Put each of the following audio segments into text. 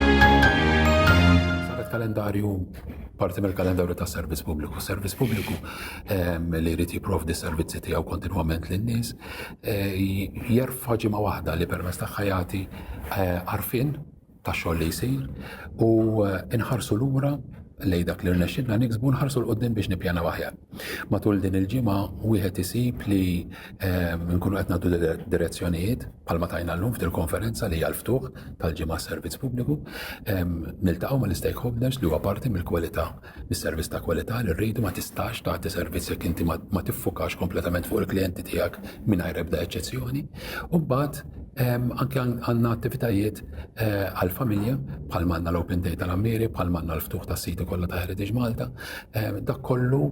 Saret kalendarju parti mill-kalendarju ta' servizz pubbliku. Servizz pubbliku ehm, li jrid jipprovdi servizzi tiegħu kontinwament lin-nies eh, jerfa' ġimgħa waħda li permezz tagħha jagħti eh, għarfien ta' xogħol li jsir u eh, inħarsu lura lej dak li rnexxinna niksbu nħarsu l-qoddim biex nippjana waħjar. Matul din il-ġimgħa wieħed isib li Inkunu qed nagħtu direzzjonijiet bħalma tajna llum f'dil konferenza li hija l-ftuħ tal-ġimgħa servizz pubbliku. Niltaqgħu mal-istakeholders li huwa parti mill-kwalità, mis-servizz ta' kwalità li rridu ma tistax tagħti servizz jekk inti ma tiffukax kompletament fuq il-klijenti tiegħek mingħajr ebda eċċezzjoni. U mbagħad anke għandna attivitajiet għall-familja bħalma għandna l-Open Day tal-Għammieri, bħalma għandna l-ftuħ tas-siti kollha ta' Heritage Malta. Dak kollu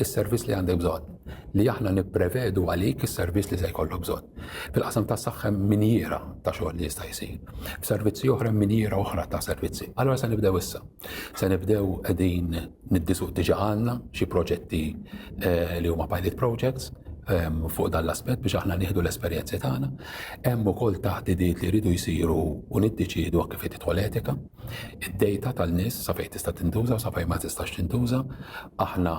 is-servizz li għandek bżonn, li aħna nipprevedu għalik is-servizz li se jkollok bżonn. Fil-qasam tas-saħħa hemm minjiera ta' xogħol li jista' jsir. F'servizzi oħra hemm minjiera oħra ta' servizzi. Allura se nibdew issa. Se nibdew qegħdin niddisuq diġà għandna xi proġetti eh, li huma pilot projects ehm, fuq dan l-aspett biex aħna nieħdu l-esperjenzi tagħna. Hemm ukoll taħdidiet li jridu jsiru u niddeċiedu kif qed tidħol etika. id-dejta tan-nies sa fejn tista' tintuża u sa fejn ma tistax tintuża. Aħna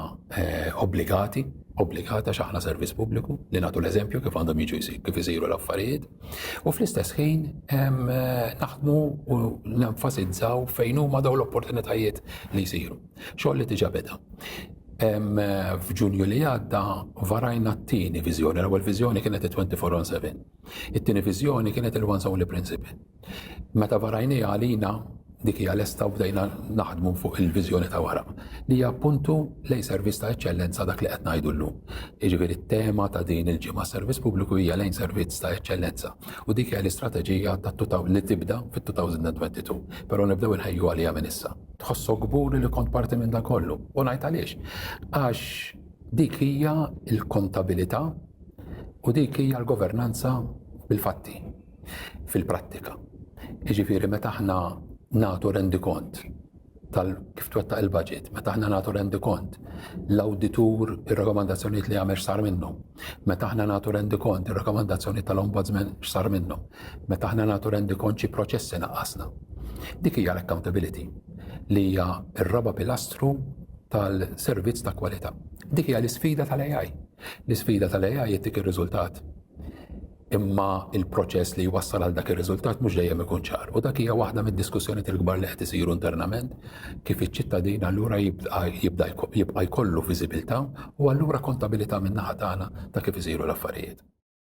obbligati, obbligati għax aħna servizz pubbliku li nagħtu l-eżempju kif għandhom jiġu kif isiru l-affarijiet u fl-istess ħin naħdmu u nenfasizzaw fejn huma dawn l-opportunitajiet li jsiru. Xogħol li diġà beda. F'Ġunju li għadda varajna t-tieni viżjoni, l-ewwel viżjoni kienet 24 on 7 It-tieni viżjoni kienet il-One Soli Principle. Meta varajniha għalina dik hija lesta u bdejna naħdmu fuq il-viżjoni ta' wara li hija appuntu lejn servizz ta' eċċellenza dak li qed ngħidu llum. Jiġifieri t-tema ta' din il-ġimgħa servizz pubbliku hija lejn servizz ta' eċċellenza u dik hija l-istrateġija li tibda fit-2022, però nibdew inħejju għaliha minn issa. Tħossok kburi li kont parti minn dan kollu? U ngħid għaliex. Għax dik hija l-kontabilità u dik hija l-governanza bil-fatti, fil-prattika. Jiġifieri meta aħna nagħtu rendikont tal kif twettaq il-budget, meta aħna nagħtu rendikont l-awditur ir-rakkomandazzjonijiet li jagħmel x'sar minnhom, meta aħna nagħtu rendikont ir-rakkomandazzjoni tal-ombudsman x'sar minnhom, meta aħna nagħtu rendikont xi proċessi naqqasna. Dik hija l-accountability li hija r-raba' pilastru tal-servizz ta' kwalità. Dik hija l-isfida tal-AI. L-isfida tal-AI hi dik ir-riżultat. Imma il-proċess li jwassal għal dak ir-riżultat mhux dejjem ikun ċar. U dak hija waħda mid-diskussjonijiet il-kbar li qed isiru internament kif iċ-ċittadin allura jibqa' jkollu viżibilità u allura kontabilità min-naħa tagħna ta' kif isiru l-affarijiet.